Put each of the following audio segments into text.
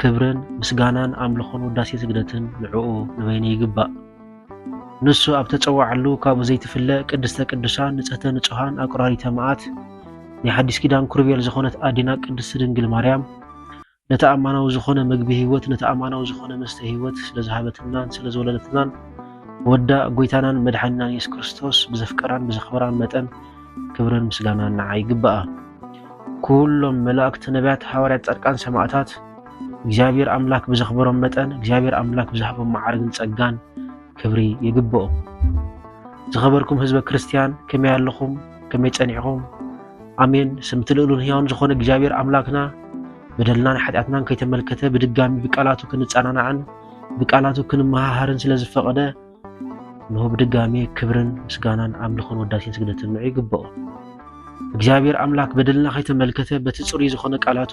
ክብርን ምስጋናን ኣምልኾን ውዳሴ ስግደትን ንዕኡ ንበይኑ ይግባእ። ንሱ ኣብ ተጸዋዓሉ ካብኡ ዘይትፍለ ቅድስተ ቅዱሳን ንጽህተ ንጹሃን ኣቁራሪተ መዓት ናይ ሓዲስ ኪዳን ኩርቤል ዝኾነት ኣዴና ቅድስቲ ድንግል ማርያም ነቲ ኣማናዊ ዝኾነ ምግቢ ህይወት ነቲ ኣማናዊ ዝኾነ መስተ ህይወት ስለ ዝሃበትናን ስለ ዝወለደትናን ወዳ ጎይታናን መድሓኒናን የሱስ ክርስቶስ ብዘፍቀራን ብዘኽበራን መጠን ክብርን ምስጋናን ንዓ ይግባኣ። ኩሎም መላእክቲ፣ ነቢያት፣ ሓዋርያት፣ ጻድቃን፣ ሰማእታት እግዚኣብሔር ኣምላክ ብዘኽበሮም መጠን እግዚኣብሔር ኣምላክ ብዝሃቦም መዓርግን ጸጋን ክብሪ ይግብኦም። ዝኸበርኩም ህዝበ ክርስቲያን ከመይ ኣለኹም? ከመይ ጸኒዕኹም? ኣሜን። ስምቲ ልእሉን ህያውን ዝኾነ እግዚኣብሔር ኣምላክና በደልናን ሓጢኣትናን ከይተመልከተ ብድጋሚ ብቃላቱ ክንጸናናዕን ብቃላቱ ክንመሃሃርን ስለ ዝፈቐደ እንሆ ብድጋሜ ክብርን ምስጋናን ኣምልኾን ወዳሴን ስግደትን ንዑ ይግብኦ። እግዚኣብሔር ኣምላክ በደልና ከይተመልከተ በቲ ጽሩይ ዝኾነ ቃላቱ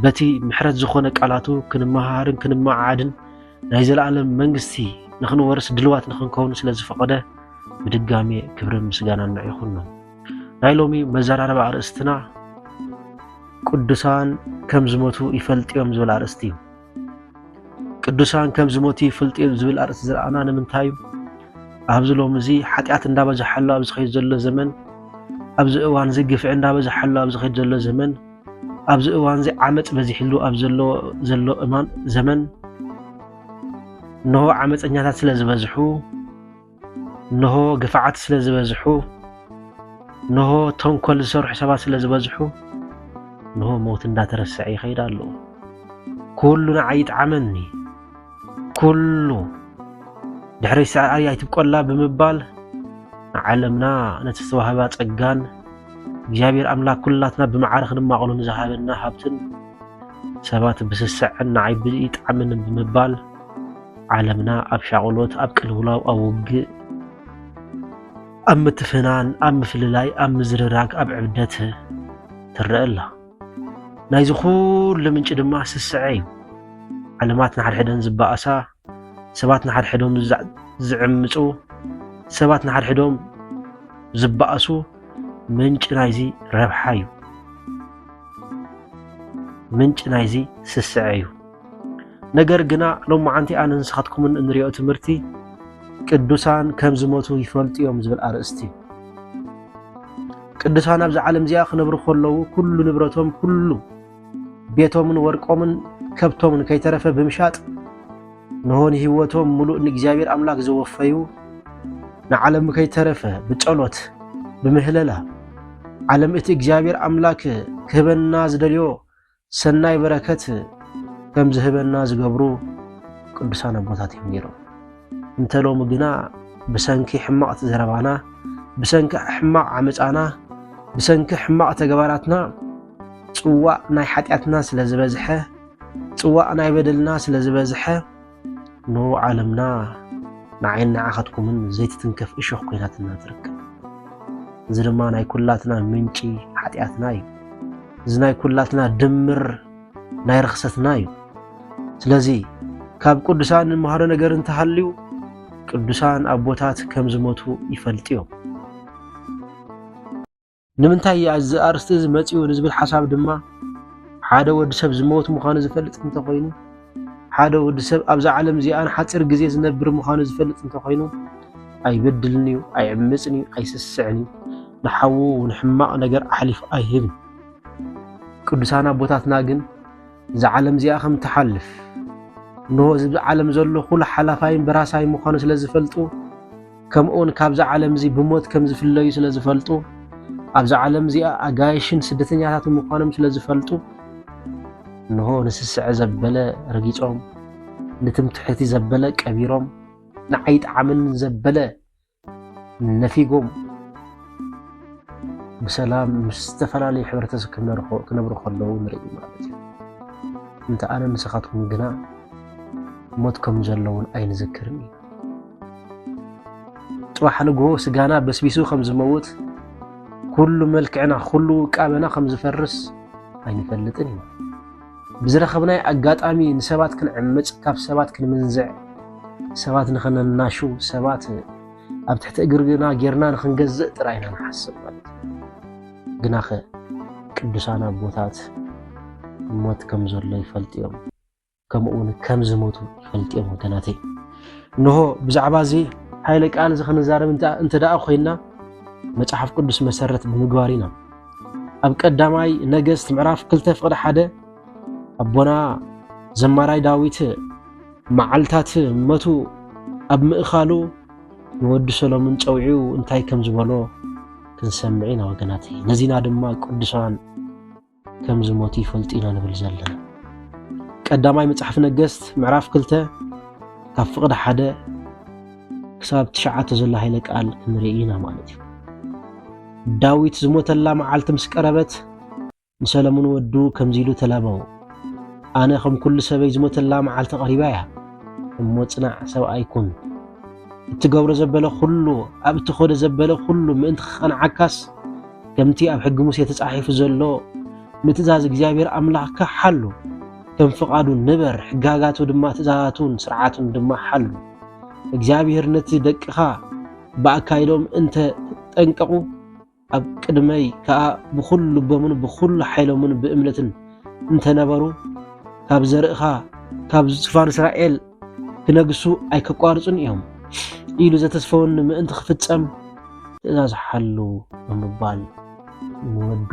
በቲ ምሕረት ዝኾነ ቃላቱ ክንመሃርን ክንመዓዓድን ናይ ዘለኣለም መንግስቲ ንክንወርስ ድልዋት ንክንከውን ስለ ዝፈቐደ ብድጋሜ ክብርን ምስጋናን ንዑ ይኹኖ። ናይ ሎሚ መዘራረቢ ኣርእስትና ቅዱሳን ከም ዝሞቱ ይፈልጥዮም ዝብል ኣርእስቲ እዩ። ቅዱሳን ከም ዝሞቱ ይፍልጡ እዮም ዝብል ኣርእስቲ ዝረኣና ንምንታይ እዩ? ኣብዚ ሎሚ እዚ ሓጢኣት እንዳበዝሓሉ ኣብ ዝኸይድ ዘሎ ዘመን፣ ኣብዚ እዋን እዚ ግፍዒ እንዳበዝሓሉ ኣብ ዝኸይድ ዘሎ ዘመን፣ ኣብዚ እዋን እዚ ዓመፅ በዚሕሉ ኣብ ዘሎ ዘሎ እማን ዘመን እንሆ ዓመፀኛታት ስለ ዝበዝሑ እንሆ ግፍዓት ስለ ዝበዝሑ፣ እንሆ ተንኮል ዝሰርሑ ሰባት ስለ ዝበዝሑ፣ እንሆ ሞት እንዳተረሰዐ ይኸይድ ኣሎ። ኩሉ ንዓይ ይጥዓመኒ፣ ኩሉ ድሕረይ ስዕራይ ኣይትብቆላ ብምባል ንዓለምና ነቲ ዝተዋህባ ጸጋን እግዚኣብሔር ኣምላክ ኩላትና ብመዓረ ክንማቕሉ ንዝሃበና ሃብትን ሰባት ብስስዐን ንዓይ ብይጥዓመንን ብምባል ዓለምና ኣብ ሻቕሎት፣ ኣብ ቅልውላው፣ ኣብ ውግእ፣ ኣብ ምትፍናን፣ ኣብ ምፍልላይ፣ ኣብ ምዝርራግ፣ ኣብ ዕብደት ትረአ ኣላ። ናይዚ ኩሉ ምንጪ ድማ ስስዐ እዩ። ዓለማት ንሓድሕደን ዝበኣሳ፣ ሰባት ንሓድሕዶም ዝዕምፁ፣ ሰባት ንሓድሕዶም ዝበኣሱ ምንጪ ናይዚ ረብሓ እዩ። ምንጪ ናይዚ ስስዐ እዩ። ነገር ግና ሎማዓንቲ ኣነን ንስኻትኩምን እንሪኦ ትምህርቲ ቅዱሳን ከም ዝሞቱ ይፈልጡ እዮም ዝብል ኣርእስቲ ቅዱሳን ኣብዚ ዓለም እዚኣ ክነብሩ ከለዉ ኩሉ ንብረቶም ኩሉ ቤቶምን ወርቆምን ከብቶምን ከይተረፈ ብምሻጥ ንሆን ህይወቶም ሙሉእ ንእግዚኣብሔር ኣምላክ ዘወፈዩ ንዓለም ከይተረፈ ብጸሎት ብምህለላ ዓለም እቲ እግዚኣብሔር ኣምላክ ክህበና ዝደልዮ ሰናይ በረከት ከም ዝህበና ዝገብሩ ቅዱሳን ኣቦታት እዮም ነይሮም። እንተ ሎሚ ግና ብሰንኪ ሕማቕ ዘረባና፣ ብሰንኪ ሕማቕ ዓመፃና፣ ብሰንኪ ሕማቕ ተግባራትና ፅዋእ ናይ ሓጢኣትና ስለ ዝበዝሐ፣ ፅዋእ ናይ በደልና ስለ ዝበዝሐ ን ዓለምና ንዓይን ንዓኻትኩምን ዘይትትንከፍ እሾኽ ኮይናትና ትርከብ። እዚ ድማ ናይ ኩላትና ምንጪ ሓጢኣትና እዩ። እዚ ናይ ኩላትና ድምር ናይ ርኽሰትና እዩ። ስለዚ ካብ ቅዱሳን ንመሃሮ ነገር እንተሃልዩ ቅዱሳን ኣቦታት ከም ዝሞቱ ይፈልጡ እዮም። ንምንታይ እያ እዚ ኣርእስቲ እዚ መፂኡ ንዝብል ሓሳብ ድማ ሓደ ወዲ ሰብ ዝመወት ምዃኑ ዝፈልጥ እንተኾይኑ ሓደ ወዲ ሰብ ኣብዛ ዓለም እዚኣ ንሓፂር ግዜ ዝነብር ምዃኑ ዝፈልጥ እንተኾይኑ ኣይበድልን እዩ፣ ኣይዕምፅን እዩ፣ ኣይስስዕን እዩ፣ ንሓዉ እውን ሕማቕ ነገር ኣሕሊፉ ኣይህብን። ቅዱሳን ኣቦታትና ግን እዛ ዓለም እዚኣ ከም ትሓልፍ እንሆ እዚ ዓለም ዘሎ ኩሉ ሓላፋይን በራሳይ ምዃኑ ስለ ዝፈልጡ ከምኡውን ካብዛ ዓለም እዚ ብሞት ከም ዝፍለዩ ስለ ዝፈልጡ ኣብዛ ዓለም እዚኣ ኣጋይሽን ስደተኛታትን ምዃኖም ስለ ዝፈልጡ እንሆ ንስስዐ ዘበለ ረጊጾም ንትምትሕቲ ዘበለ ቀቢሮም ንዓይ ጣዕምን ዘበለ ነፊጎም ብሰላም ምስ ዝተፈላለዩ ሕብረተሰብ ክነብሩ ከለዉ ንርኢ ማለት እዩ እንተ ኣነ ንስኻትኩም ግና ሞት ከም ዘለውን ኣይንዝክርን እዩ ጽባሕ ንግሆ ስጋና በስቢሱ ከም ዝመውት ኩሉ መልክዕና ኩሉ ውቃበና ከም ዝፈርስ ኣይንፈልጥን ኢና ብዝረኸብናይ ኣጋጣሚ ንሰባት ክንዕምፅ ካብ ሰባት ክንምንዝዕ ሰባት ንኸነናሹ ሰባት ኣብ ትሕቲ እግርና ጌርና ንክንገዝእ ጥራይ ኢና ንሓስብ ማለት ግናኸ ቅዱሳን ኣቦታት ሞት ከም ዘሎ ይፈልጡ እዮም ከምኡውን ከም ዝሞቱ ይፈልጡ እዮም ወገናተይ እንሆ ብዛዕባ እዚ ሓይለ ቃል እዚ ክንዛረብ እንተ ደኣ ኮይና መጽሓፍ ቅዱስ መሰረት ብምግባር ኢና ኣብ ቀዳማይ ነገስት ምዕራፍ ክልተ ፍቅዲ ሓደ ኣቦና ዘማራይ ዳዊት መዓልታት መቱ ኣብ ምእኻሉ ንወዲ ሰሎምን ጨውዒው እንታይ ከም ዝበሎ ክንሰምዕ ኢና ወገናት ነዚና ድማ ቅዱሳን ከም ዝሞቱ ይፈልጡ ኢና ንብል ዘለና። ቀዳማይ መጽሓፍ ነገስት ምዕራፍ ክልተ ካብ ፍቕዲ ሓደ ክሳብ ትሽዓተ ዘሎ ሃይለ ቃል ክንርኢ ኢና ማለት እዩ ዳዊት ዝሞተላ መዓልቲ ምስ ቀረበት ንሰለሙን ወዱ ከምዚ ኢሉ ተላበዎ ኣነ ከም ኩሉ ሰበይ ዝሞተላ መዓልቲ ቀሪባ እያ እሞ ጽናዕ ሰብኣይ ኩን እትገብሮ ዘበለ ኩሉ ኣብ እትኸዶ ዘበለ ኩሉ ምእንቲ ክቐንዓካስ ከምቲ ኣብ ሕጊ ሙሴ ተጻሒፉ ዘሎ ንትእዛዝ እግዚኣብሔር ኣምላኽካ ሓሉ፣ ከም ፍቓዱ ንበር፣ ሕጋጋቱ ድማ ትእዛዛቱን ስርዓቱን ድማ ሓሉ። እግዚኣብሔር ነቲ ደቅኻ ብኣካይዶም እንተ ጠንቀቑ ኣብ ቅድመይ ከኣ ብዅሉ ልቦምን ብዅሉ ሓይሎምን ብእምነትን እንተነበሩ ካብ ዘርእኻ ካብ ዝፋን እስራኤል ክነግሱ ኣይከቋርጹን እዮም ኢሉ ዘተስፈወኒ ምእንቲ ክፍጸም ትእዛዝ ሓሉ ብምባል ንወዱ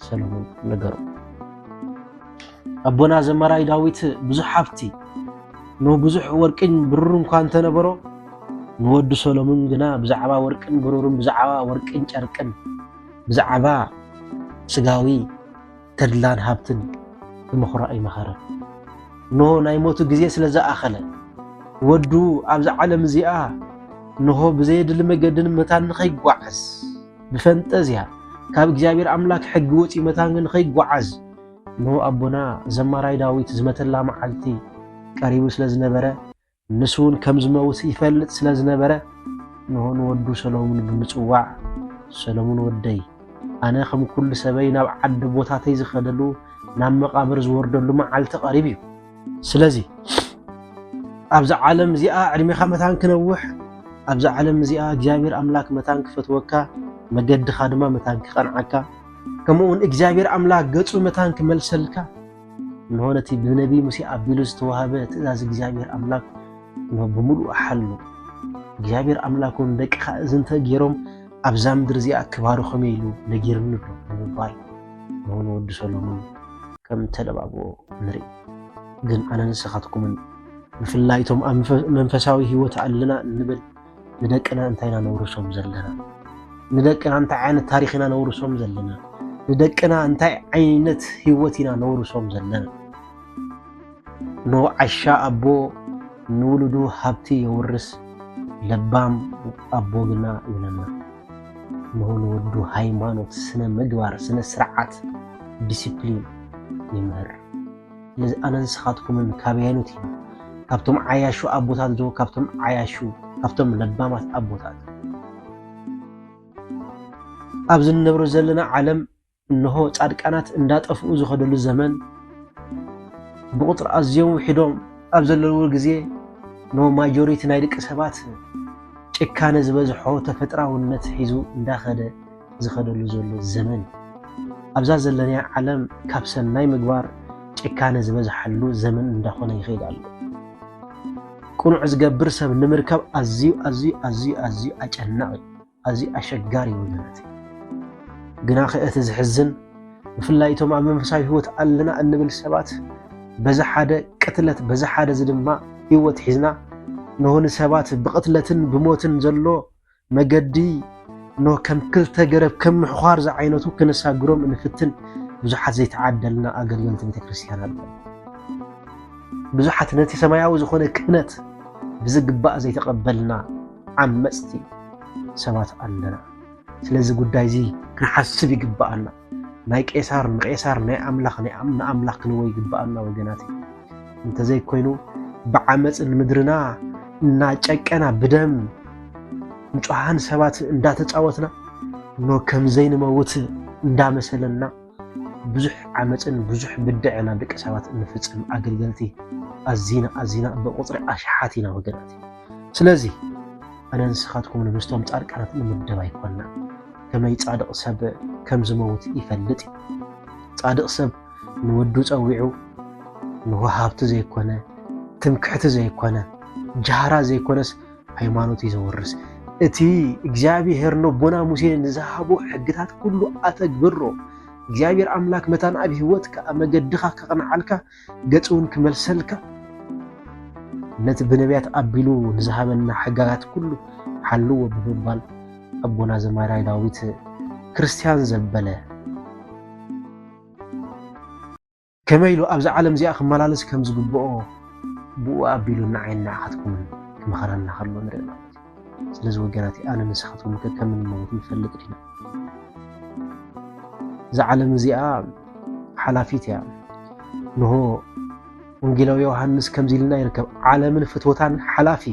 ሰለሙን ነገሩ። ኣቦና ዘማራይ ዳዊት ብዙሕ ሃብቲ ንብዙሕ ወርቅን ብሩርን እኳ እንተነበሮ ንወዱ ሰሎሙን ግና ብዛዕባ ወርቅን ብሩርን ብዛዕባ ወርቅን ጨርቅን ብዛዕባ ስጋዊ ተድላን ሃብትን ብምኹራዕ ይመኸረ። እንሆ ናይ ሞቱ ግዜ ስለ ዝኣኸለ፣ ወዱ ኣብዛ ዓለም እዚኣ እንሆ ብዘየድሊ መገድን መታን ንኸይጓዓዝ፣ ብፈንጠዝያ ካብ እግዚኣብሔር ኣምላክ ሕጊ ወፂ መታን ንኸይጓዓዝ፣ እንሆ ኣቦና ዘማራይ ዳዊት ዝመተላ መዓልቲ ቀሪቡ ስለ ዝነበረ፣ ንሱውን ከም ዝመውት ይፈልጥ ስለ ዝነበረ እንሆ ንወዱ ሰሎሙን ብምጽዋዕ ሰሎሙን ወደይ ኣነ ከም ኩሉ ሰበይ ናብ ዓዲ ቦታተይ ዝኸደሉ ናብ መቓብር ዝወርደሉ መዓልቲ ቀሪብ እዩ ስለዚ ኣብዚ ዓለም እዚኣ ዕድሜኻ መታን ክነውሕ ኣብዚ ዓለም እዚኣ እግዚኣብሔር ኣምላክ መታን ክፈትወካ መገድኻ ድማ መታን ክቐንዓካ ከምኡውን እግዚኣብሔር ኣምላክ ገጹ መታን ክመልሰልካ እንሆ ነቲ ብነቢይ ሙሴ ኣቢሉ ዝተዋህበ ትእዛዝ እግዚኣብሔር ኣምላክ እንሆ ብምሉእ ሓሉ እግዚኣብሔር ኣምላክ እውን ደቅኻ እዚ እንተ ገይሮም ኣብዛ ምድሪ እዚኣ ክባርኾም ኢሉ ነጊርኒ ኣሎ ብምባል እንሆ ንወዲ ሰሎሞን ከም ተለባብዎ ንርኢ ግን ኣነ ንስኻትኩምን ብፍላይ እቶም ኣብ መንፈሳዊ ህይወት ኣለና እንብል ንደቅና እንታይ ኢና ነውርሶም ዘለና? ንደቅና እንታይ ዓይነት ታሪኽ ኢና ነውርሶም ዘለና? ንደቅና እንታይ ዓይነት ህይወት ኢና ነውርሶም ዘለና? ኖ ዓሻ ኣቦ ንውሉዱ ሃብቲ የውርስ፣ ለባም ኣቦ ግና ይነና። ንሆ ንወዱ ሃይማኖት፣ ስነ ምግባር፣ ስነ ስርዓት፣ ዲሲፕሊን ይምህር። ኣነ ንስኻትኩምን ካብ ያይኑት ኢና ካብቶም ዓያሹ ኣቦታት ዶ ካብቶም ዓያሹ ካብቶም ለባማት ኣቦታት ኣብዚ እንነብሮ ዘለና ዓለም እንሆ ጻድቃናት እንዳጠፍኡ ዝኸደሉ ዘመን ብቁፅሪ ኣዝዮም ውሒዶም ኣብ ዘለውዎ ግዜ ን ማጆሪቲ ናይ ደቂ ሰባት ጭካነ ዝበዝሖ ተፈጥራውነት ሒዙ እንዳኸደ ዝኸደሉ ዘሎ ዘመን እዩ። ኣብዛ ዘለናያ ዓለም ካብ ሰናይ ምግባር ጭካነ ዝበዝሓሉ ዘመን እንዳኾነ ይኸይድ ኣሎ። ቅኑዕ ዝገብር ሰብ ንምርካብ ኣዝዩ ኣዝዩ ኣዝዩ ኣዝዩ ኣጨናቂ ኣዝዩ ኣሸጋሪ ወገናት ግና ከእቲ ዝሕዝን ብፍላይ እቶም ኣብ መንፈሳዊ ህይወት ኣለና እንብል ሰባት በዚ ሓደ ቅትለት በዚ ሓደ እዚ ድማ ህይወት ሒዝና ንሆን ሰባት ብቅትለትን ብሞትን ዘሎ መገዲ ኖህ ከም ክልተ ገረብ ከም ምሕዃር ዝዓይነቱ ክነሳግሮም እንፍትን ብዙሓት ዘይተዓደልና ኣገልገልቲ ቤተ ክርስቲያን ኣለዉ። ብዙሓት ነቲ ሰማያዊ ዝኾነ ክህነት ብዝግባእ ዘይተቐበልና ዓመፅቲ ሰባት ኣለና። ስለዚ ጉዳይ እዚ ክንሓስብ ይግባኣና። ናይ ቄሳር ንቄሳር ናይ ኣምላኽ ንኣምላኽ ክንዎ ይግብኣና ወገናት እንተዘይኮይኑ ብዓመፅ ንምድርና እናጨቀና ብደም ንፁሃን ሰባት እንዳተፃወትና ኖ ከምዘይንመውት እንዳመሰለና ብዙሕ ዓመፅን ብዙሕ ብድዐና ደቂ ሰባት እንፍፅም ኣገልገልቲ ኣዚና ኣዚና ብቁፅሪ ኣሽሓት ኢና ወገናት ስለዚ ኣነ ንስኻትኩም ንምስቶም ፃድቃናት ንምደብ ኣይኮና ከመይ ጻድቕ ሰብ ከም ዝመውት ይፈልጥ እዩ። ጻድቕ ሰብ ንወዱ ጸዊዑ ንወሃብቲ ዘይኮነ፣ ትምክሕቲ ዘይኮነ፣ ጃህራ ዘይኮነስ ሃይማኖት እዩ ዘውርስ። እቲ እግዚኣብሔር ነቦና ሙሴ ንዝሃቦ ሕግታት ኩሉ ኣተግብሮ። እግዚኣብሔር ኣምላክ መታን ኣብ ህይወትካ ኣብ መገድኻ ከቕንዓልካ ገጽ እውን ክመልሰልካ ነቲ ብነቢያት ኣቢሉ ንዝሃበና ሕጋጋት ኩሉ ሓልዎ ብምባል ኣቦና ዘማራይ ዳዊት ክርስትያን ዘበለ ከመይ ኢሉ ኣብዚ ዓለም እዚኣ ክመላለስ ከም ዝግብኦ ብኡ ኣቢሉ ንዓይን ንዓኻትኩምን ክመኸረና ከሎ ንርኢ ማለት እዩ። ስለዚ ወገናት ኣነ ንስኻትኩም ከ ከም እንመውት ንፈልጥ ዲና እዛ ዓለም እዚኣ ሓላፊት እያ ንሆ ወንጌላዊ ዮሃንስ ከምዚ ኢልና ይርከብ ዓለምን ፍትወታን ሓላፊ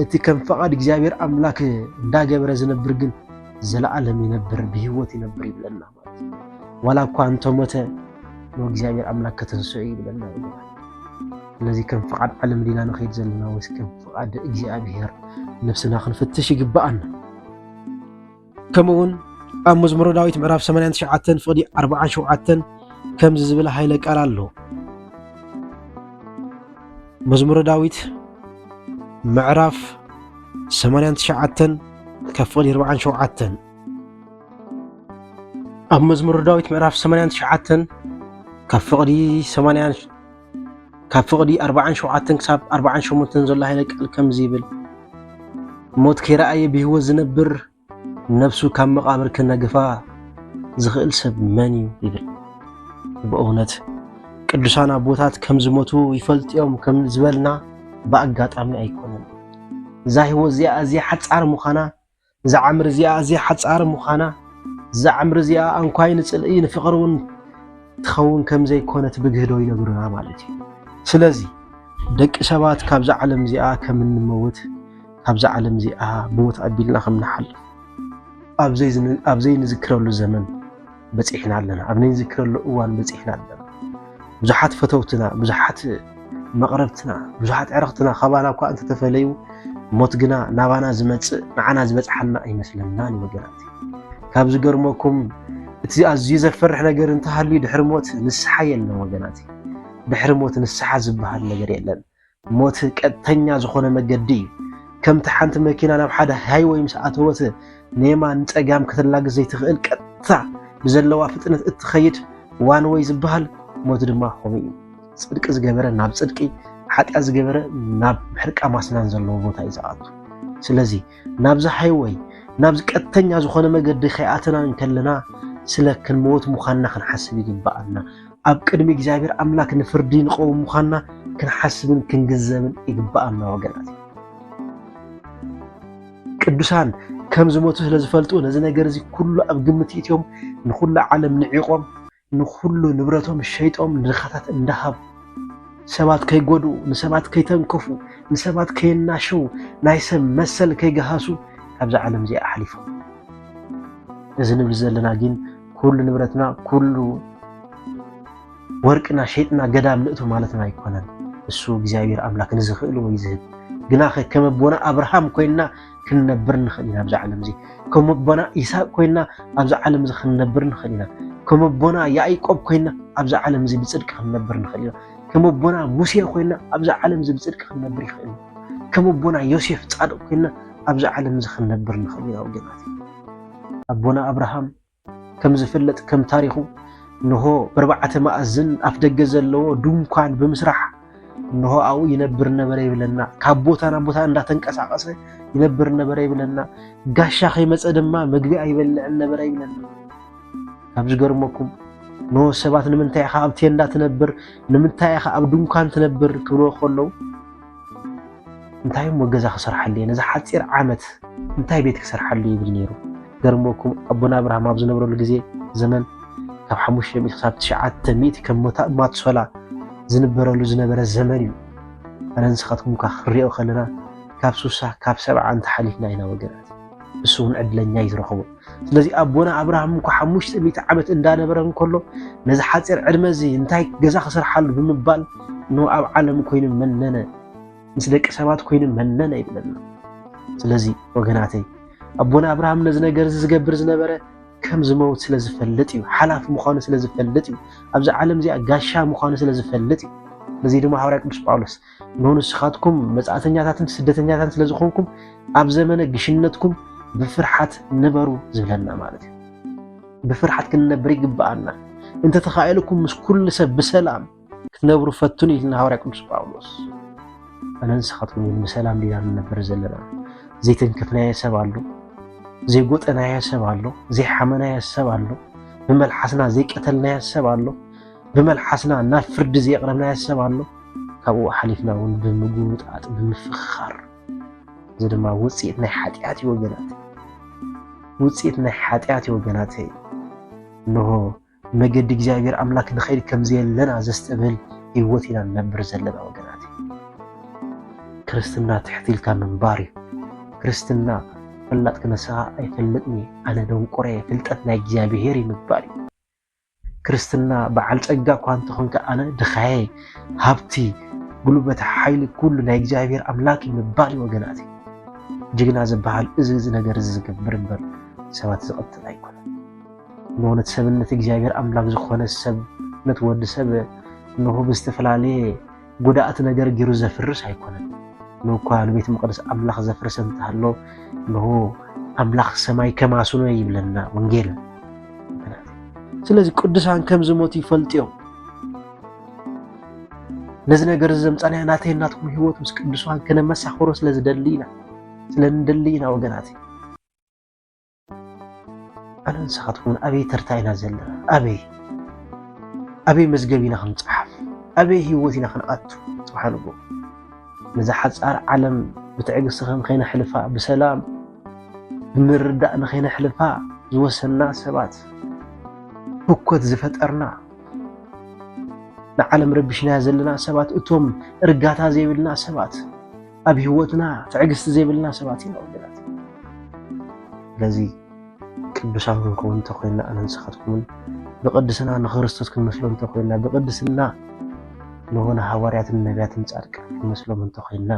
እቲ ከም ፈቓድ እግዚኣብሔር ኣምላክ እንዳገበረ ዝነብር ግን ዘለዓለም ይነብር ብህይወት ይነብር ይብለና ዋላ እኳ እንተሞተ ንእግዚኣብሔር ኣምላክ ከተንስዑ እዩ ዝበልና ስለዚ ከም ፍቓድ ዓለም ዲና ንኸይድ ዘለና ወይስ ከም ፍቓድ እግዚኣብሔር ነብስና ክንፍትሽ ይግባኣና ከምኡውን ኣብ መዝሙረ ዳዊት ምዕራፍ 89 ፍቕዲ 47 ከምዚ ዝብል ሃይለ ቃል ኣሎ መዝሙረ ዳዊት ምዕራፍ 89 ካብ ፍቕዲ 47 ኣብ መዝሙረ ዳዊት ምዕራፍ 89 ካብ ፍቕዲ 80 ካብ ፍቕዲ 47 ክሳብ 48 ዘሎ ሃይለ ቃል ከምዚ ይብል ሞት ከይረኣየ ብህይወት ዝነብር ነብሱ ካብ መቓብር ክነግፋ ዝኽእል ሰብ መን እዩ ይብል ብእውነት ቅዱሳን ኣቦታት ከም ዝሞቱ ይፈልጡ እዮም ከም ዝበልና ብኣጋጣሚ ኣይኮነን እዛ ህይወት እዚኣ ኣዝያ ሓፃር ምዃና እዛ ዓምሪ እዚኣ ኣዝያ ሓጻር ምዃና፣ እዛ ዓምሪ እዚኣ ኣንኳይ ንጽልኢ ንፍቕሪ እውን ትኸውን ከም ዘይኮነት ብግህዶ ይነግሩና ማለት እዩ። ስለዚ ደቂ ሰባት ካብዛ ዓለም እዚኣ ከም እንመውት ካብዛ ዓለም እዚኣ ብሞት ኣቢልና ከም ንሓልፍ ኣብ ዘይንዝክረሉ ዘመን በጺሕና ኣለና፣ ኣብ ነንዝክረሉ እዋን በጺሕና ኣለና። ብዙሓት ፈተውትና፣ ብዙሓት መቕረብትና፣ ብዙሓት ዕረኽትና ካባና እኳ እንተተፈለዩ ሞት ግና ናባና ዝመጽእ ንዓና ዝበጽሓና ኣይመስለናን እዩ ወገናት። ካብ ዝገርመኩም እቲ ኣዝዩ ዘፈርሕ ነገር እንተሃልዩ ድሕሪ ሞት ንስሓ የለን ወገናት። ድሕሪ ሞት ንስሓ ዝበሃል ነገር የለን። ሞት ቀጥተኛ ዝኾነ መገዲ እዩ። ከምቲ ሓንቲ መኪና ናብ ሓደ ሃይወይ ምስ ኣተወት ንየማን ንፀጋም ከተላግስ ዘይትኽእል ቀጥታ ብዘለዋ ፍጥነት እትኸይድ ዋን ወይ ዝበሃል ሞት ድማ ከምኡ እዩ። ፅድቂ ዝገበረ ናብ ፅድቂ፣ ሓጢኣት ዝገበረ ናብ ምሕርቃም ኣስናን ዘለዎ ቦታ እዩ ዝኣቱ። ስለዚ ናብ ዝሓይ ወይ ናብ ዝቀጥተኛ ዝኾነ መገዲ ከይኣተና እንከለና ስለ ክንመወት ምዃንና ክንሓስብ ይግብኣና። ኣብ ቅድሚ እግዚኣብሔር ኣምላክ ንፍርዲ ንቀውም ምዃንና ክንሓስብን ክንግዘብን ይግብኣና ወገናት። ቅዱሳን ከም ዝመቱ ስለ ዝፈልጡ ነዚ ነገር እዚ ኩሉ ኣብ ግምት ይእትዮም ንኹሉ ዓለም ንዒቆም ንኹሉ ንብረቶም ሸይጦም ንድኻታት እንዳሃቡ ሰባት ከይጎድኡ፣ ንሰባት ከይተንከፉ፣ ንሰባት ከየናሸው፣ ናይ ሰብ መሰል ከይገሃሱ ካብዛ ዓለም እዚኣ ኣሕሊፎም። እዚ ንብል ዘለና ግን ኩሉ ንብረትና ኩሉ ወርቅና ሸይጥና ገዳም ንእቱ ማለትና ኣይኮነን። እሱ እግዚኣብሔር ኣምላክ ንዝኽእል ወይ ዝህብ ግናኸ ከም ኣቦና ኣብርሃም ኮይንና ክንነብር ንኽእል ኢና ኣብዚ ዓለም እዚ ከም ኣቦና ይስሐቅ ኮይና ኣብዚ ዓለም እዚ ክንነብር ንኽእል ኢና ከም ኣቦና ያዕቆብ ኮይና ኣብዚ ዓለም እዚ ብፅድቂ ክንነብር ንኽእል ኢና ከም ኣቦና ሙሴ ኮይና ኣብዚ ዓለም እዚ ብፅድቂ ክንነብር ይኽእል ኢና ከም ኣቦና ዮሴፍ ፃድቅ ኮይና ኣብዚ ዓለም እዚ ክንነብር ንኽእል ኢና ወገናት ኣቦና ኣብርሃም ከም ዝፍለጥ ከም ታሪኹ እንሆ በርባዕተ ማእዝን ኣፍ ደገ ዘለዎ ድንኳን ብምስራሕ እንሆ ኣብኡ ይነብር ነበረ ይብለና። ካብ ቦታ ናብ ቦታ እንዳተንቀሳቀሰ ይነብር ነበረ ይብለና። ጋሻ ከይመፀ ድማ ምግቢ ኣይበልዕን ነበረ ይብለና። ካብ ዝገርመኩም ኖ ሰባት ንምንታይ ኢኻ ኣብ ቴንዳ ትነብር ንምንታይ ኢኻ ኣብ ድንኳን ትነብር ክብልዎ ከለዉ እንታይ እሞ ገዛ ክሰርሓሉ እየ ነዚ ሓፂር ዓመት እንታይ ቤት ክሰርሓሉ ይብል ነይሩ ገርመኩም ኣቦና ኣብርሃም ኣብ ዝነብረሉ ግዜ ዘመን ካብ ሓሙሽተ ሚእቲ ክሳብ ትሽዓተ ሚእቲ ከም ማትሶላ ዝንበረሉ ዝነበረ ዘመን እዩ ኣነ ንስኻትኩም እኳ ክንሪኦ ከለና ካብ ሱሳ ካብ ሰብዓ እንተሓሊፍና ኢና ወገናት ንሱ እውን ዕድለኛ እዩ ዝረኸቦ ስለዚ ኣቦና ኣብርሃም እኳ ሓሙሽተ ሚእቲ ዓመት እንዳነበረ እንከሎ ነዚ ሓፂር ዕድመ እዚ እንታይ ገዛ ክስርሓሉ ብምባል ን ኣብ ዓለም ኮይኑ መነነ ምስ ደቂ ሰባት ኮይኑ መነነ ይብለና። ስለዚ ወገናተይ ኣቦና ኣብርሃም ነዚ ነገር እዚ ዝገብር ዝነበረ ከም ዝመውት ስለ ዝፈልጥ እዩ። ሓላፊ ምዃኑ ስለ ዝፈልጥ እዩ። ኣብዚ ዓለም እዚኣ ጋሻ ምዃኑ ስለ ዝፈልጥ እዩ። ነዚ ድማ ሃዋርያ ቅዱስ ጳውሎስ እነሆ ንስኻትኩም መጻእተኛታትን ስደተኛታትን ስለ ዝኾንኩም ኣብ ዘመነ ግሽነትኩም ብፍርሓት ንበሩ ዝብለና ማለት እዩ ብፍርሓት ክንነብር ይግብኣና እንተተኻኢልኩም ምስ ኩሉ ሰብ ብሰላም ክትነብሩ ፈትኑ ኢልና ሃዋርያ ቅዱስ ጳውሎስ ኣነ ንስኻትኩም ግን ብሰላም ዲና ንነብር ዘለና ዘይተንከፍናዮ ሰብ ኣሎ ዘይጎጠናዮ ሰብ ኣሎ ዘይሓመናዮ ሰብ ኣሎ ብመልሓስና ዘይቀተልናዮ ሰብ ኣሎ ብመልሓስና ናብ ፍርዲ ዘየቕረብናዮ ሰብ ኣሎ ካብኡ ሓሊፍና እውን ብምጉምጣጥ ብምፍኽኻር እዚ ድማ ውፅኢት ናይ ሓጢኣት እዩ ወገናት ውፅኢት ናይ ሓጢኣት እዩ ወገናተይ እንሆ መገዲ እግዚኣብሔር ኣምላክ ንኸይድ ከምዘየለና ዘስተብህል ህይወት ኢና ንነብር ዘለና ወገናት ክርስትና ትሕት ኢልካ ምንባር እዩ ክርስትና ፈላጥ ክነስኻ ኣይፈልጥኒ ኣነ ደንቆረ ፍልጠት ናይ እግዚኣብሔር እዩ ምግባር እዩ ክርስትና በዓል ጸጋ እኳ እንተኾንካ ኣነ ድኻየ ሃብቲ ጉልበት ሓይሊ ኩሉ ናይ እግዚኣብሔር ኣምላክ እዩ ምባል እዩ ወገናት ጅግና ዝበሃል እዚ እዚ ነገር እዚ ዝገብር እምበር ሰባት ዝቐትል ኣይኮነ ንእውነት ሰብነት እግዚኣብሔር ኣምላክ ዝኾነ ሰብነት ወዲ ሰብ እንሆ ብዝተፈላለየ ጉድኣት ነገር ጊሩ ዘፍርስ ኣይኮነን። ንኳ ንቤት መቕደስ ኣምላኽ ዘፍርሰ እንተሃሎ ንሆ ኣምላኽ ሰማይ ከማስኖ ይብለና ወንጌል። ስለዚ ቅዱሳን ከም ዝሞቱ ይፈልጡ እዮም። ነዚ ነገር እዚ ዘምፃናዮ ናተይ ናትኩም ህይወት ምስ ቅዱሳን ከነመሳኽሮ ስለ ዝደሊ ኢና ስለ ንደሊ ኢና ወገናት ኣነ ንስኻትኩምን ኣበይ ተርታ ኢና ዘለና? ኣበይ ኣበይ መዝገብ ኢና ክንፀሓፍ? ኣበይ ህይወት ኢና ክንኣቱ? ፅባሕ ንጎ ነዛ ሓፃር ዓለም ብትዕግስቲ ከም ከይነሕልፋ ብሰላም ብምርዳእ ንከይነሕልፋ ዝወሰንና ሰባት ህኮት ዝፈጠርና ንዓለም ረቢሽና ዘለና ሰባት እቶም እርጋታ ዘይብልና ሰባት ኣብ ህይወትና ትዕግስቲ ዘይብልና ሰባት ኢና ወገናት። ስለዚ ቅዱሳን ክንከውን እንተኮይና ኣነ ንስኻትኩምን ብቅድስና ንክርስቶስ ክንመስሎ እንተኮይና ብቅድስና ንሆነ ሃዋርያትን ነቢያትን ጻድቃን ክንመስሎም እንተኮይና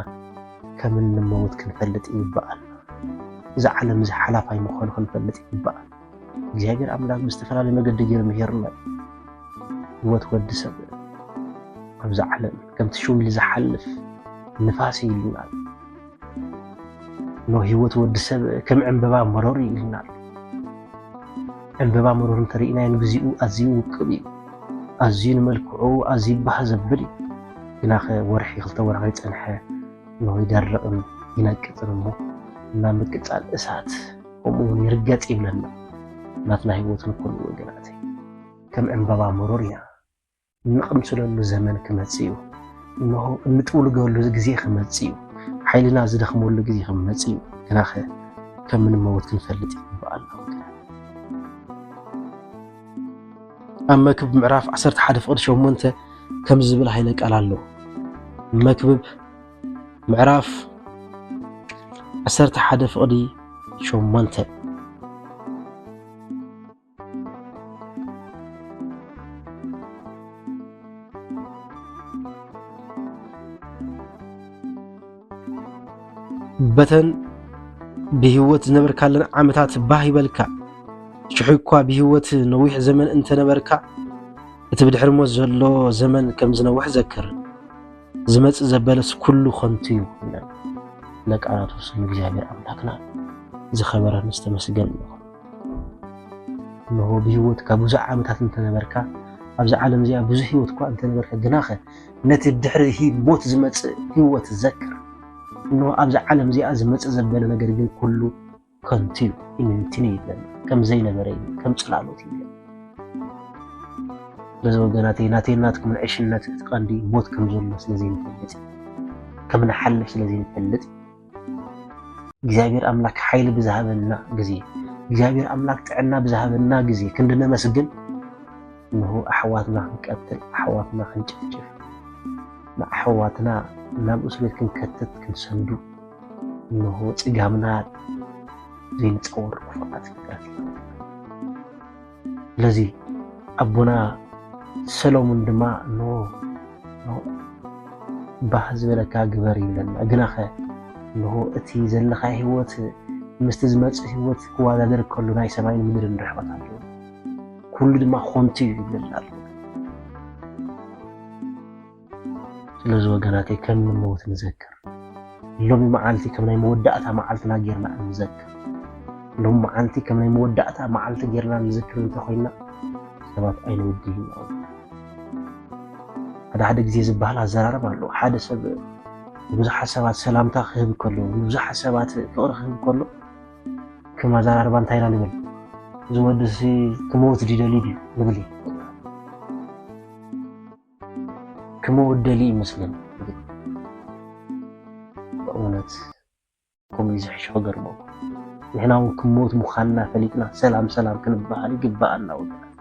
ከም እንመውት ክንፈልጥ ይግባኣል። እዚ ዓለም እዚ ሓላፋይ ምዃኑ ክንፈልጥ ይግባኣል። እግዚኣብሔር ኣምላክ ብዝተፈላለዩ መገዲ ገይሩ ምሄርና ህይወት ወዲ ሰብ ኣብዚ ዓለም ከምቲ ሽው ኢሉ ዝሓልፍ ንፋስ እዩ ኢልና ኖ ህይወት ወዲ ሰብ ከም ዕምበባ መሮር እዩ ኢልና ዕምበባ መሮር እንተርእናዮ ንግዚኡ ኣዝዩ ውቅብ እዩ ኣዝዩ ንመልክዑ ኣዝዩ ባህ ዘብል እዩ ግናኸ ወርሒ ክልተ ወርሒ ፀንሐ ኖ ይደርቕን ይነቅፅን እሞ እና ምቅፃል እሳት ከምኡ እውን ይርገጽ ይብለና ናትና ህይወት ንኩሉ ወገናተይ ከም ዕምበባ ምሩር ኢና እንቕምስለሉ ዘመን ክመጽእ እዩ እንሆ እንጥውልገሉ ግዜ ክመጽእ እዩ ሓይልና ዝደኽመሉ ግዜ ክመጽእ እዩ ግናኸ ከም ምንመወት ክንፈልጥ ይግባእ ኣሎ ኣብ መክብብ ምዕራፍ 11 ፍቕዲ 8 ከም ዝብል ሃይለ ቃል ኣሎ መክብብ ምዕራፍ ዓሰርተ ሓደ ፍቕዲ ሸሞንተ በተን ብህይወት ዝነበርካለን ዓመታት ባህ ይበልካ ሽሑ እኳ ብህይወት ነዊሕ ዘመን እንተነበርካ እቲ ብድሕሪ ሞት ዘሎ ዘመን ከም ዝነውሕ ዘክር ዝመጽእ ዘበለስ ኩሉ ከንቱ እዩ ይብለን ለቃናቱ ስም እግዚኣብሔር ኣምላክና ዝኸበረን ዝተመስገን እዩ። እንሆ ብህይወት ካብ ብዙሕ ዓመታት እንተነበርካ ኣብዚ ዓለም እዚኣ ብዙሕ ህይወት እኳ እንተነበርካ ግናኸ ነቲ ድሕሪ ሞት ዝመጽእ ህይወት ዘክር። እንሆ ኣብዚ ዓለም እዚኣ ዝመጽእ ዘበለ ነገር ግን ኩሉ ከንቱ እዩ ኢምንትን እዩ ይብለኒ ከም ዘይነበረ እዩ ከም ጽላሎት እዩ ይብለኒ በዚ ወገናተይ ናተይ ናትኩምን ዕሽነት እቲ ቀንዲ ሞት ከም ዘሎ ስለ ዘይንፈልጥ ከም ንሓልፍ ስለ ዘይንፈልጥ እግዚኣብሔር ኣምላክ ሓይሊ ብዝሃበና ግዜ እግዚኣብሔር ኣምላክ ጥዕና ብዝሃበና ግዜ ክንዲ ነመስግን እንሆ ኣሕዋትና ክንቀትል ኣሕዋትና ክንጭፍጭፍ ንኣሕዋትና ናብ እስር ቤት ክንከትት ክንሰንዱ እንሆ ጽጋምና ዘይንጸወር ክፉኣት ፍጥረት ኢና። ስለዚ ኣቦና ሰሎሙን ድማ እንሆ ባህ ዝበለካ ግበር ይብለና። ግናኸ እንሆ እቲ ዘለካ ህይወት ምስቲ ዝመጽእ ህይወት ክወዳደር ከሎ ናይ ሰማይን ምድርን ርሕቐት ኣለዎ። ኩሉ ድማ ኮንቱ እዩ ይብለና ኣሎ። ስለዚ ወገናተይ ከም ንመውት ንዘክር ሎሚ መዓልቲ ከም ናይ መወዳእታ መዓልትና ጌርና እንዘክር ሎሚ መዓልቲ ከም ናይ መወዳእታ መዓልቲ ጌርና ንዝክር እንተኮይና ሰባት ኣይንውድይ ኢና ሓደ ሓደ ግዜ ዝበሃል ኣዘራርብ ኣሎ ሓደ ሰብ ንብዙሓት ሰባት ሰላምታ ክህብ ከሎ ንብዙሓት ሰባት ፍቕሪ ክህብ ከሎ ከም ኣዘራርባ እንታይ ኢና ንብል እዚ ወድሲ ክመውት ድደልዩ ድዩ ንብል ክመወደሊ እዩ መስለኒ በእውነት ከምኡ ዝሕሽ ክገርመኩ ንሕና እውን ክሞት ምዃንና ፈሊጥና ሰላም ሰላም ክንበሃል ይግባኣና ወገናት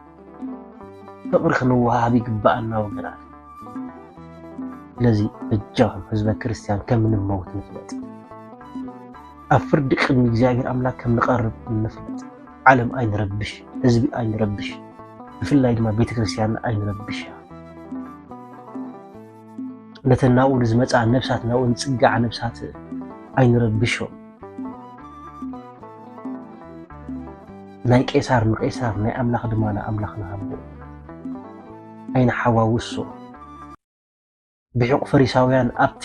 ፍቕሪ ክንወሃብ ይግባኣና ወገናት ስለዚ በጃኹም ህዝበ ክርስቲያን ከም ንመውት ንፍለጥ ኣብ ፍርዲ ቅድሚ እግዚኣብሔር ኣምላክ ከም ንቐርብ ንፍለጥ ዓለም ኣይንረብሽ፣ ህዝቢ ኣይንረብሽ፣ ብፍላይ ድማ ቤተክርስትያን ኣይንረብሽ። ነተን ናብኡ ንዝመፃ ነብሳት ናብኡ ንፅጋዓ ነብሳት ኣይንረብሾ። ናይ ቄሳር ንቄሳር ናይ ኣምላኽ ድማ ንኣምላኽ ንሃቦ ኣይንሓዋውሶ። ብሒቝ ፈሪሳውያን ኣብቲ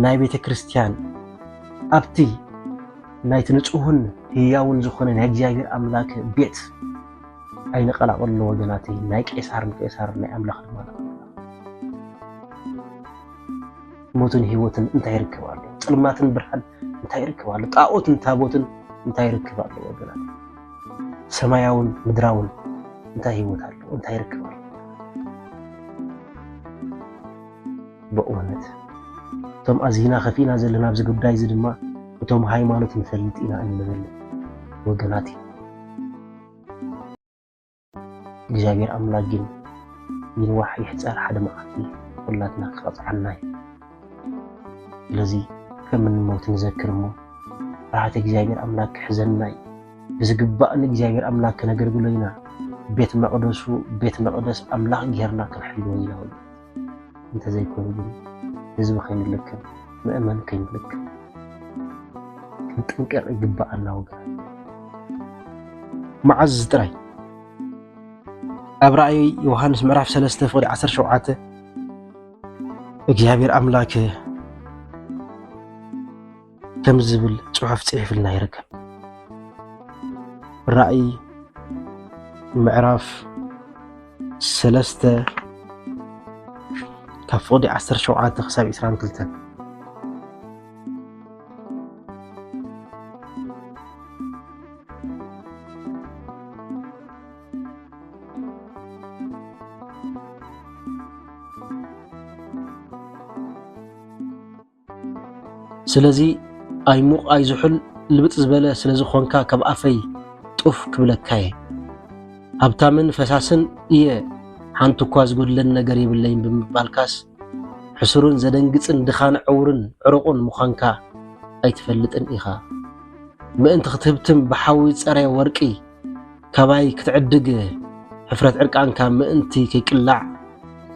ናይ ቤተ ክርስቲያን ኣብቲ ናይቲ ንጹህን ህያውን ዝኾነ ናይ እግዚኣብሔር ኣምላክ ቤት ኣይንቐላቕሎ ወገናተይ ናይ ቄሳር ንቄሳር ናይ ኣምላኽ ድማ ሞትን ህይወትን እንታይ ይርከብ ኣሎ? ጽልማትን ብርሃን እንታይ ይርከብ ኣሎ? ጣዖትን ታቦትን እንታይ ይርከብ ኣሎ? ወገናት ሰማያውን ምድራውን እንታይ ህይወት ኣሎ? እንታይ ርክብ ኣሎ? በእውነት እቶም ኣዚና ከፊእና ዘለና ኣብዚ ጉዳይ እዚ ድማ እቶም ሃይማኖት ንፈልጥ ኢና እንብል ወገናት እዩ። እግዚኣብሔር ኣምላክ ግን ይንዋሕ ይሕፀር ሓደ መዓልቲ ኩላትና ክቐፅዓና እዩ። ስለዚ ከም እንሞት ንዘክር እሞ ፍርሃት እግዚኣብሔር ኣምላክ ክሕዘና እዩ። ብዝግባእ ንእግዚኣብሔር ኣምላክ ክነገልግሎ ኢና። ቤት መቕደሱ ቤት መቕደስ ኣምላኽ ጌርና ክንሕልዎ ኢና። እንተዘይኮይኑ ግን ህዝቢ ከይንልክም ምእመን ከይንልክም ክንጥንቀቕ ይግባኣና ወገናት። መዓዝ ጥራይ ኣብ ራእይ ዮሃንስ ምዕራፍ 3 ፍቕዲ 17 እግዚኣብሔር ኣምላክ ከም ዝብል ጽሑፍ ጽሒፍልና ይርከብ። ራእይ ምዕራፍ ሰለስተ ካብ ፍቕዲ 17 ክሳብ 22 Thank you. ስለዚ ኣይሙቕ ኣይዝሑል ልብጥ ዝበለ ስለ ዝኾንካ ካብ ኣፈይ ጡፍ ክብለካየ። ሃብታምን ፈሳስን እየ ሓንቲ እኳ ዝጎድለኒ ነገር የብለይን ብምባልካስ ሕሱርን ዘደንግጽን ድኻን ዕውርን ዕሩቑን ምዃንካ ኣይትፈልጥን ኢኻ። ምእንቲ ክትህብትም ብሓዊ ዝጸረየ ወርቂ ካባይ ክትዕድግ ሕፍረት ዕርቃንካ ምእንቲ ከይቅላዕ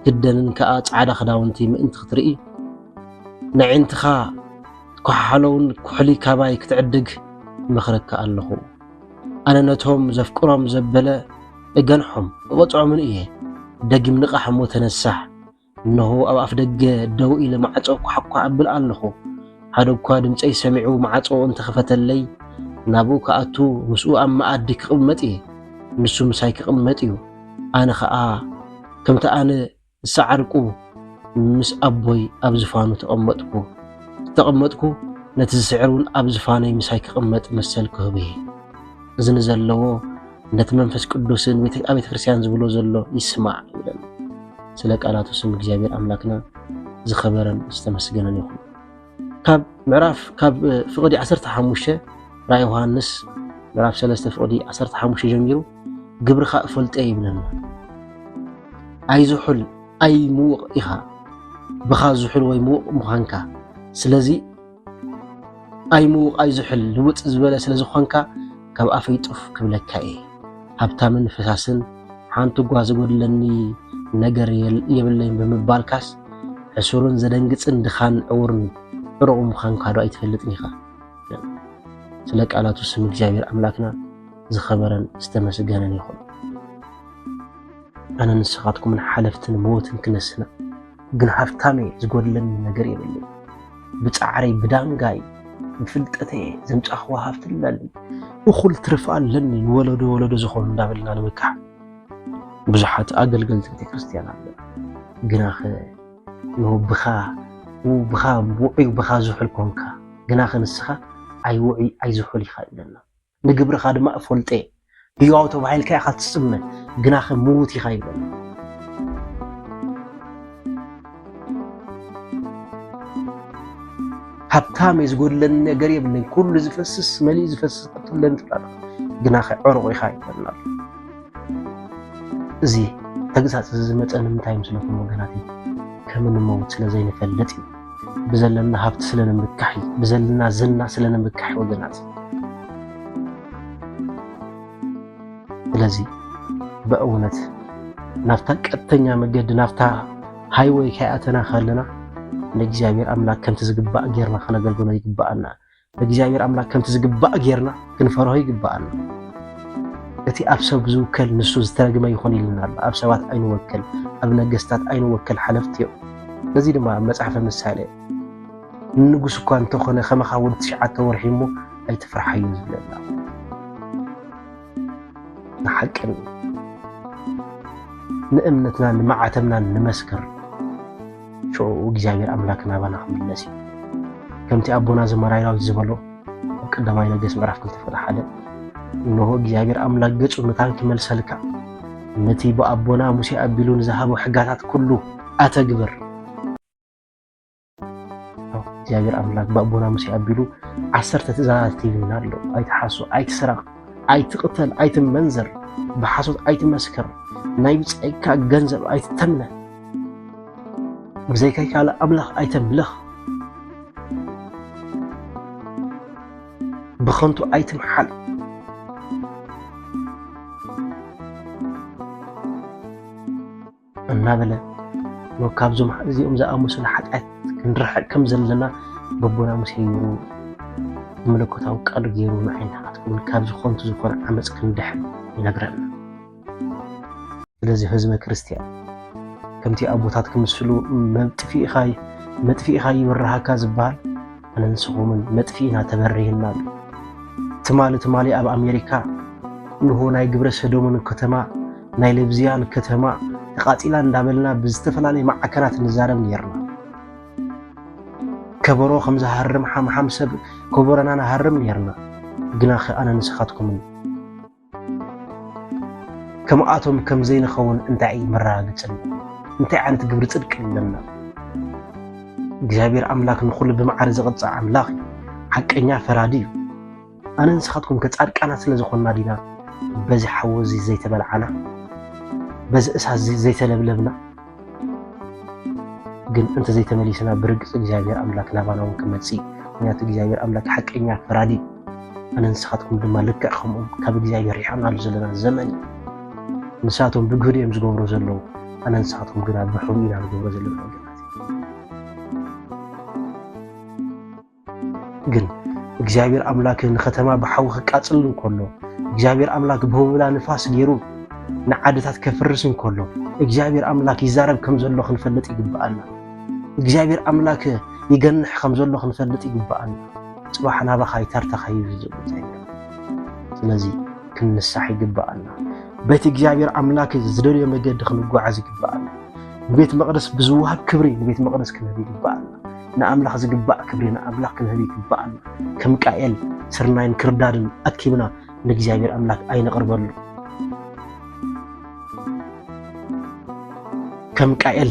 ክትክደንን ከኣ ጻዕዳ ክዳውንቲ ምእንቲ ክትርኢ ነዒንትኻ ትኮሓሓለውን ኩሕሊ ካባይ ክትዕድግ ይመኽረካ ኣለኹ። ኣነ ነቶም ዘፍቅሮም ዘበለ እገንሖም እቐጽዖምን እየ። ደጊም ንቓሕ እሞ ተነሳሕ። እነሆ ኣብ ኣፍደገ ደው ኢለ ማዕጾ ኳሕኳሕ ኣብል ኣለኹ። ሓደ እኳ ድምጸይ ሰሚዑ ማዕጾ እንተ ኸፈተለይ፣ ናብኡ ክኣቱ ምስኡ ኣብ መኣዲ ክቕመጥ እየ። ንሱ ምሳይ ክቕመጥ እዩ፣ ኣነ ኸኣ ከምቲ ኣነ ዝጸዓርኩ ምስ ኣቦይ ኣብ ዝፋኑ ተቐመጥኩ እተቐመጥኩ፣ ነቲ ዝስዕር እውን ኣብ ዝፋነይ ምሳይ ክቕመጥ መሰል ክህቦ እየ። እዚ ንዘለዎ ነቲ መንፈስ ቅዱስን ኣብ ቤተ ክርስቲያን ዝብሎ ዘሎ ይስማዕ ይብለና። ስለ ቃላቱ ስም እግዚኣብሔር ኣምላክና ዝኸበረን ዝተመስገነን ይኹን። ካብ ምዕራፍ ካብ ፍቕዲ 15 ራእይ ዮሃንስ ምዕራፍ 3 ፍቕዲ 15 ጀሚሩ ግብርኻ እፈልጠ ይብለና። ኣይዝሑል ኣይ ምውቕ ኢኻ ብኻ ዝሑል ወይ ምውቕ ምዃንካ ስለዚ ኣይ ምውቃይ ዝሑል ልውጥ ዝበለ ስለ ዝኾንካ ካብ ኣፈይ ጡፍ ክብለካ እየ ሃብታምን ፈሳስን ሓንቲ እኳ ዝጎድለኒ ነገር የብለይን ብምባልካስ ሕሱርን ዘደንግጽን ድኻን ዕውርን ዕሩቕ ምዃንካ ዶ ኣይትፈልጥን ኢኻ ስለ ቃላቱ ስም እግዚኣብሔር ኣምላክና ዝኸበረን ዝተመስገነን ይኹን። ኣነ ንስኻትኩምን ሓለፍትን መወትን ክነስና ግን ሃብታመ ዝጎድለኒ ነገር የብልን ብፃዕረይ ብዳንጋይ ብፍልጠተየ ዘምፃኽዋ ሃፍቲ ኣለኒ እኹል ትርፊ ኣለኒ ንወለዶ ወለዶ ዝኾኑ እንዳበልና ንምካሕ ብዙሓት ኣገልገልቲ ቤተክርስትያን ኣለ ግናኸ ብኻ ብኻ ውዑይ ብኻ ዝሑል ኮንካ ግናኸ ንስኻ ኣይውዑይ ኣይዝሑል ኢኻ ኢለና ንግብርኻ ድማ እፈልጦ'የ፣ ህያው ተባሂልካ ኢኻ እትጽመ፣ ግናኸ ምዉት ኢኻ ይብለኒ። ሃብታም'የ፣ ዝጐድለኒ ነገር የብለይን፣ ኵሉ ዝፈስስ መሊኡ ዝፈስስ ሃብቲ ኣለኒ ትብል ኣለኻ፣ ግናኸ ዕሩቕ ኢኻ ይብለኒ ኣሎ። እዚ ተግሳጽ እዚ ዝመጸ ንምንታይ እዩ? ስለ እቶም ወገናተይ ከም እንመውት ስለ ዘይንፈልጥ እዩ። ብዘለና ሃብቲ ስለ ንምካሕ እዩ ብዘለና ዝና ስለ ንምካሕ ወገናት ስለዚ በእውነት ናብታ ቀጥተኛ መገዲ ናብታ ሃይወይ ከይኣተና ከለና ንእግዚኣብሔር ኣምላክ ከምቲ ዝግባእ ጌርና ከነገልግሎ ይግባኣና እግዚኣብሔር ኣምላክ ከምቲ ዝግባእ ጌርና ክንፈርሆ ይግባኣና። እቲ ኣብ ሰብ ዝውከል ንሱ ዝተረግመ ይኹን ኢልና ኣሎ። ኣብ ሰባት ኣይንወከል፣ ኣብ ነገስታት ኣይንወከል፣ ሓለፍቲ እዮም። ነዚ ድማ ኣብ መጽሓፈ ምሳሌ ንንጉስ እኳ እንተኾነ ከመኻ ወዲ ትሽዓተ ወርሒ እሞ ኣይትፍርሓዮ ዝብለና ንሓቅን ንእምነትናን ንመዓተብናን ንመስክር ሽዑ እግዚኣብሔር ኣምላክ ናባና ክምለስ እዩ ከምቲ ኣቦና ዘመራይ ዳዊት ዝበሎ ኣብ ቀዳማይ ነገስ ምዕራፍ ክልተ ፍቅዲ ሓደ እነሆ እግዚኣብሔር ኣምላክ ገጹ ምታን ክመልሰልካ ነቲ ብኣቦና ሙሴ ኣቢሉ ንዝሃቦ ሕጋታት ኩሉ ኣተግብር እግዚኣብሔር ኣምላክ ብኣቦና ሙሴ ኣቢሉ ዓሰርተ ትእዛዛት ሂቡና ኣሎ። ኣይትሓሱ፣ ኣይትስረቅ፣ ኣይትቅተል፣ ኣይትመንዘር፣ ብሓሶት ኣይትመስክር፣ ናይ ብጻይካ ገንዘብ ኣይትተምነ፣ ብዘይካይ ካልእ ኣምላኽ ኣይተምልኽ፣ ብኸንቱ ኣይትምሓል እናበለ ካብዞም እዚኦም ዝኣመሰሉ ሓጢኣት ክንርሕቅ ከም ዘለና በቦና ሙሴ ገይሩ መለኮታዊ ቃሉ ገይሩ ንዓይና ክትከውን ካብዚ ከንቱ ዝኾነ ዓመፅ ክንድሕን ይነግረና። ስለዚ ህዝበ ክርስቲያን ከምቲ ኣቦታት ክምስሉ መጥፊእኻ መጥፊእኻ ይብርሃካ ዝበሃል ኣነ ንስኹምን መጥፊእና ተበሪህና ኣሎ ትማሊ ትማሊ ኣብ ኣሜሪካ እንሆ ናይ ግብረ ሰዶምን ከተማ ናይ ልብዝያን ከተማ ተቓፂላ እንዳበልና ብዝተፈላለየ ማዕከናት ንዛረብ ነርና ከበሮ ከም ዝሃርም ሓምሓም ሰብ ከበሮና ንሃርም ነርና ግናኸ ኣነ ንስኻትኩምን ከምኣቶም ከም ዘይንኸውን እንታይ እዩ መረጋገጽና? እንታይ ዓይነት ግብሪ ጽድቂ ኣለና? እግዚኣብሔር ኣምላክ ንኹሉ ብመዓረ ዝቐጽ ኣምላኽ እዩ። ሓቀኛ ፈራዲ እዩ። ኣነ ንስኻትኩም ከጻድቃናት ስለ ዝኾንና ዲና በዚ ሓዊ እዚ ዘይተበልዓና? በዚ እሳት እዚ ዘይተለብለብና? ግን እንተዘይተመሊስና ብርግፅ እግዚኣብሔር ኣምላክ ናባና እውን ክመፅእ እዩ ምክንያቱ እግዚኣብሔር ኣምላክ ሓቀኛ ፈራዲ ኣነ ንስኻትኩም ድማ ልክዕ ከምኦም ካብ እግዚኣብሔር ሪሕና ኣሉ ዘለና ዘመን እዩ ንሳቶም ብግህድ እዮም ዝገብሩ ዘለዉ ኣነ ንስኻትኩም ግና ብሕቡ ኢና ንገብሮ ዘለና ግን እግዚኣብሔር ኣምላክ ንኸተማ ብሓዊ ክቃፅል እንከሎ እግዚኣብሔር ኣምላክ ብህቡብላ ንፋስ ገይሩ ንዓድታት ከፍርስ እንከሎ እግዚኣብሔር ኣምላክ ይዛረብ ከም ዘሎ ክንፈልጥ ይግብኣና እግዚኣብሔር ኣምላክ ይገንሕ ከም ዘሎ ክንፈልጥ ይግብኣና ፅባሕ ናባኻ ይተርተኻ ይብል ዘሎ ስለዚ ክንንሳሕ ይግብኣና ቤት እግዚኣብሔር ኣምላክ ዝደልዮ መገዲ ክንጓዓዝ ይግብኣና ንቤት መቅደስ ብዝወሃብ ክብሪ ንቤት መቅደስ ክንህብ ይግብኣና ንኣምላኽ ዝግባእ ክብሪ ንኣምላኽ ክንህብ ይግባኣና። ከም ቃኤል ስርናይን ክርዳድን ኣኪብና ንእግዚኣብሔር ኣምላክ ኣይነቕርበሉ። ከም ቃኤል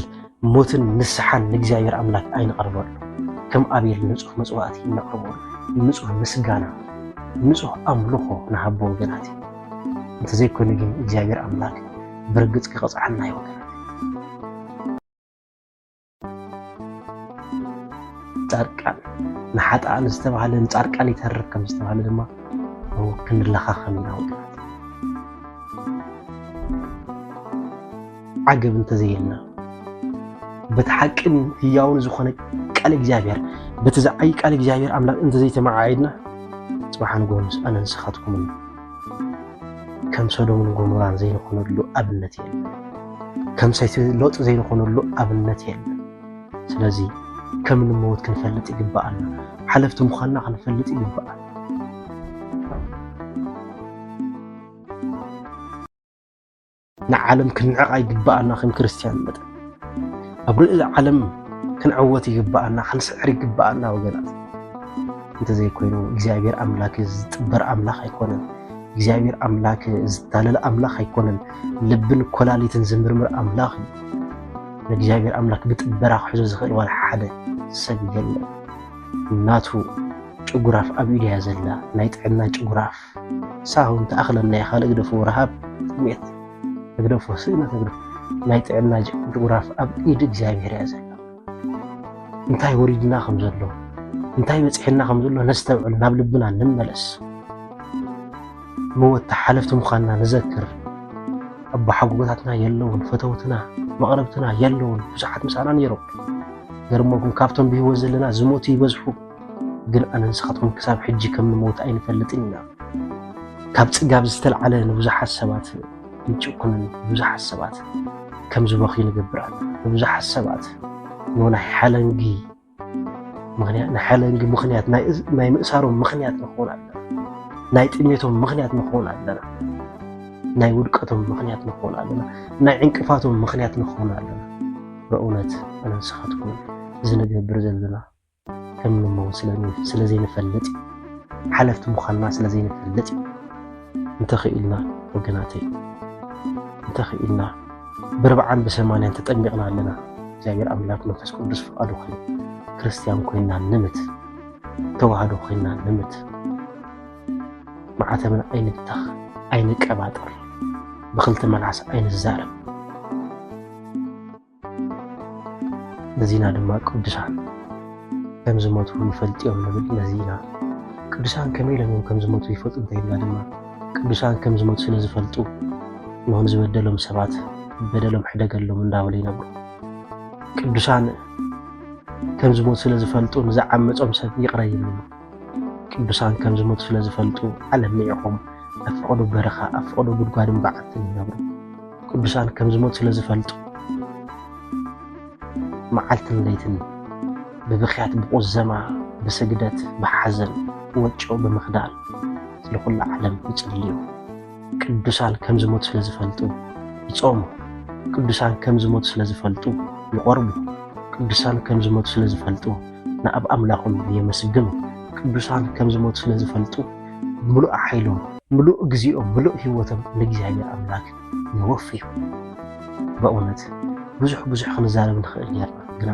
ሞትን ንስሓን ንእግዚኣብሔር ኣምላክ ኣይነቕርበሉ። ከም ኣቤል ንጹህ መጽዋዕቲ ይነቕርበሉ። ንጹህ ምስጋና፣ ንጹህ ኣምልኾ ንሃቦ ወገናት እንተዘይኮይኑ ግን እግዚኣብሔር ኣምላክ ብርግጽ ክቐጽዓና ይወገናት ጻድቃን ንሓጥኣን ዝተባህለ ንጻድቃን ይተርፍ ከም ዝተባህለ ድማ ክንለኻኸም ኢና ውድባት ዓገብ እንተዘይልና በቲ ሓቅን ህያውን ዝኾነ ቃል እግዚኣብሔር በቲ ዝዓይ ቃል እግዚኣብሔር ኣምላክ እንተዘይተመዓዒድና ጽባሕ ንጎንስ ኣነ ንስኻትኩምን ከም ሰዶምን ጎሞራን ዘይንኾነሉ ኣብነት የለን። ከም ሰይቲ ሎጥ ዘይንኾነሉ ኣብነት የለን። ስለዚ ከም እንመወት ክንፈልጥ ይግባኣና። ሓለፍቲ ምዃንና ክንፈልጥ ይግባኣና። ንዓለም ክንዕቓ ይግብኣና ከም ክርስትያን መጠን ኣብ ልዕሊ ዓለም ክንዕወት ይግብኣና ክንስዕር ይግብኣና ወገናት እንተዘይኮይኑ እግዚኣብሔር ኣምላክ ዝጥበር ኣምላክ ኣይኮነን እግዚኣብሔር ኣምላክ ዝታለል ኣምላክ ኣይኮነን ልብን ኮላሊትን ዝምርምር ኣምላክ እዩ ንእግዚኣብሔር ኣምላክ ብጥበራ ክሕዞ ዝኽእል ዋላ ሓደ ሰብ የለን ናቱ ጭጉራፍ ኣብ ኢድያ ዘላ ናይ ጥዕና ጭጉራፍ ሳሆን ተኣኽለናዮ ካልእ ግደፍዎ ረሃብ ጥምየት ተግደፎ ስእነት ተግደፎ ናይ ጥዕና ጅጉራፍ ኣብ ኢድ እግዚኣብሔር እያ ዘላ እንታይ ወሪድና ከም ዘሎ እንታይ በፂሕና ከም ዘሎ ነስተውዕል ናብ ልብና ንመለስ መወታ ሓለፍቲ ምዃንና ንዘክር ኣቦሓጎጎታትና የለውን ፈተውትና መቕረብትና የለውን ብዙሓት ምሳና ነይሮም ገርሞኩም ካብቶም ብህይወት ዘለና ዝሞቱ ይበዝሑ ግን ኣነ ንስኻትኩም ክሳብ ሕጂ ከም ንሞት ኣይንፈልጥን ኢና ካብ ጽጋብ ዝተልዓለ ንብዙሓት ሰባት ንጭኩንን ብዙሓት ሰባት ከም ዝበኽዩ ንገብር ኣለ ንብዙሓት ሰባት ንናይ ሓለንጊ ምክንያት ንሓለንጊ ምክንያት ናይ ምእሳሮም ምክንያት ንኸውን ኣለና ናይ ጥሜቶም ምክንያት ንኸውን ኣለና ናይ ውድቀቶም ምክንያት ንኸውን ኣለና ናይ ዕንቅፋቶም ምክንያት ንኸውን ኣለና በእውነት ኣነ ንስኻትኩም ዝንገብር ዘለና ከም ንመው ስለዘይንፈልጥ ሓለፍቲ ምዃንና ስለዘይንፈልጥ እንተኽኢልና ወገናተይ እንተኽኢልና ብርብዓን ብሰማንያን ተጠሚቕና ኣለና እግዚኣብሔር ኣምላክ መንፈስ ቅዱስ ፍቃዱ ኮይኑ ክርስትያን ኮይና ንምት ተዋህዶ ኮይና ንምት ማዕተብና ኣይንብተኽ ኣይንቀባጠር ብክልተ መልሓስ ኣይንዛረብ ነዚና ድማ ቅዱሳን ከም ዝሞቱ ይፈልጥ እዮም ንብል። ነዚና ቅዱሳን ከመይ ኢሎም እዮም ከም ዝሞቱ ይፈልጡ እንተይልና ድማ ቅዱሳን ከም ዝሞቱ ስለ ዝፈልጡ ንሆን ዝበደሎም ሰባት በደሎም ሕደገሎም እንዳበሉ ይነብሩ። ቅዱሳን ከም ዝሞቱ ስለ ዝፈልጡ ንዝዓመፆም ሰብ ይቕረ ይብሉ። ቅዱሳን ከም ዝሞቱ ስለ ዝፈልጡ ዓለም ንዒኾም ኣብ ፍቕዱ በረኻ ኣብ ፍቕዱ ጉድጓድን በዓትን ይነብሩ። ቅዱሳን ከም ዝሞቱ ስለ ዝፈልጡ መዓልትን ለይትን ብብኽያት ብቑዘማ ብስግደት ብሓዘን ወጮ ብምኽዳል ስለ ኩሉ ዓለም ይጽልዩ። ቅዱሳን ከም ዝሞቱ ስለ ዝፈልጡ ይጾሙ። ቅዱሳን ከም ዝሞቱ ስለ ዝፈልጡ ይቖርቡ። ቅዱሳን ከም ዝሞቱ ስለ ዝፈልጡ ንኣብ ኣምላኾም የመስግኑ። ቅዱሳን ከም ዝሞቱ ስለ ዝፈልጡ ምሉእ ሓይሎም፣ ምሉእ ግዚኦም፣ ምሉእ ህይወቶም ንእግዚኣብሔር ኣምላክ የወፍዩ። በእውነት ብዙሕ ብዙሕ ክንዛረብ ንኽእል ኔርና፣ ግና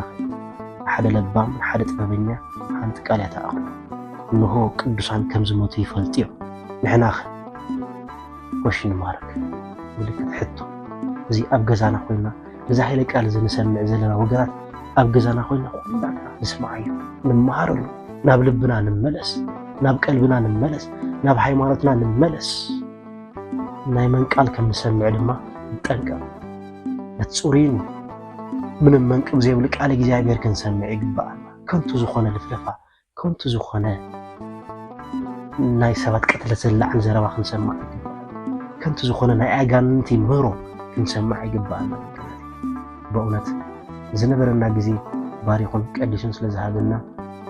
ሓደ ለባም ሓደ ጥበበኛ ሓንቲ ቃል እያ ትኣኽሎ። እንሆ ቅዱሳን ከም ዝሞቱ ይፈልጡ እዮም። ንሕናኸ? ኮሽን ማርክ ምልክት ሕቶ እዚ ኣብ ገዛና ኮይና እዚ ኃይለ ቃል እዚ ንሰምዕ ዘለና ወገናት ኣብ ገዛና ኮይና ኩላትና ንስምዓዮ፣ ንመሃረሉ፣ ናብ ልብና ንመለስ፣ ናብ ቀልብና ንመለስ፣ ናብ ሃይማኖትና ንመለስ። ናይ መን ቃል ከም ንሰምዕ ድማ ንጠንቀቕ። ነቲ ጽሩይን ምንም መንቅብ ዘይብሉ ቃል እግዚኣብሔር ክንሰምዕ ይግብኣና። ከንቱ ዝኾነ ልፍለፋ፣ ከንቱ ዝኾነ ናይ ሰባት ቅትለት ዘላዕል ዘረባ ክንሰማዕ ኣይግባእን። ከንቱ ዝኾነ ናይ ኣጋንንቲ ምህሮ ክንሰማዕ ኣይግባእና። በእውነት ዝነበረና ግዜ ባሪኹን ቀዲሱን ስለ ዝሃበና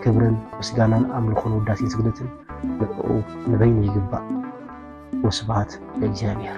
ክብርን ምስጋናን ኣምልኾን ውዳሴን ስግደትን ንዕኡ ንበይኑ ይግባእ። ወስብሃት ለእግዚኣብሔር።